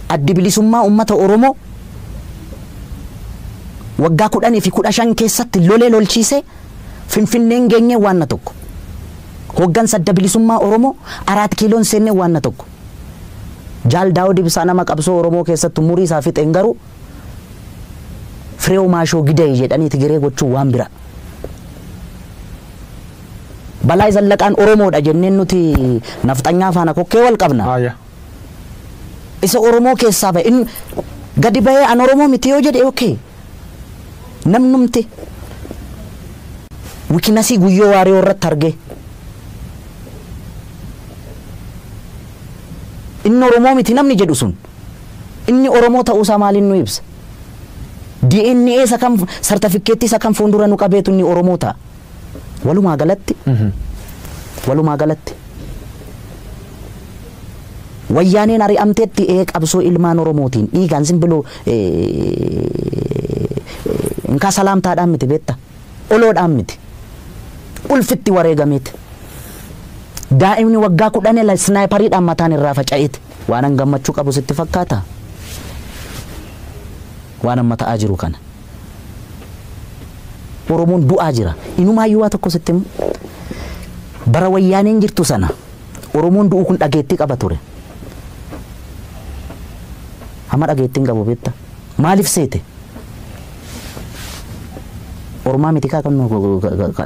Addi Bilisummaa Uummata Oromoo waggaa 10 fi 15 keessatti lolee lolchiisee Finfinneen geenyee waanna tokko. Hooggansa Adda Bilisummaa Oromoo Araat Kiiloon seennee waanna tokko. Jaal Daawud Ibsaa nama qabsoo Oromoo keessatti umurii isaa fixeen garuu Fireew Maashoo Giday jedhanii Tigiree gochuun waan biraa. Balaay Zallaqaan Oromoodha jenneen nuti nafxanyaa faana kokkee wal qabna. Haaya. Isa Oromoo keessaa bahe in gadi bahee an Oromoo miti yoo jedhe okay. Namnumti wikinasii Guyyoo Waariyoo irratti argee inni Oromoo miti namni jedhu sun inni Oromoo ta'uu isaa maaliin nu ibsa? DNA isa kam sartafikkeettii isa kam fuuldura nu qabeetu inni Oromoo ta'a? Walumaa galatti Walumaa galatti Wayyaaneen ari'amteetti ee qabsoo ilmaan Oromootiin dhiigaan simbiloo inkaa salaamtaadhaan miti beetta oloodhaan miti ulfitti wareegameeti daa'imni waggaa kudhan ila isnaayipariidhaan mataan irraa faca'eeti waanan gammachuu qabu sitti fakkaata waanan mata'aa jiru kana. Oromoon du'aa jira. Inumaayyuu waa tokko sitti himu. Bara wayyaaneen jirtu sana Oromoon du'uu kun dhageettii qaba ture. Amma dhageettii hin qabu beekta. Maaliif seete? Ormaa miti kaa kan nu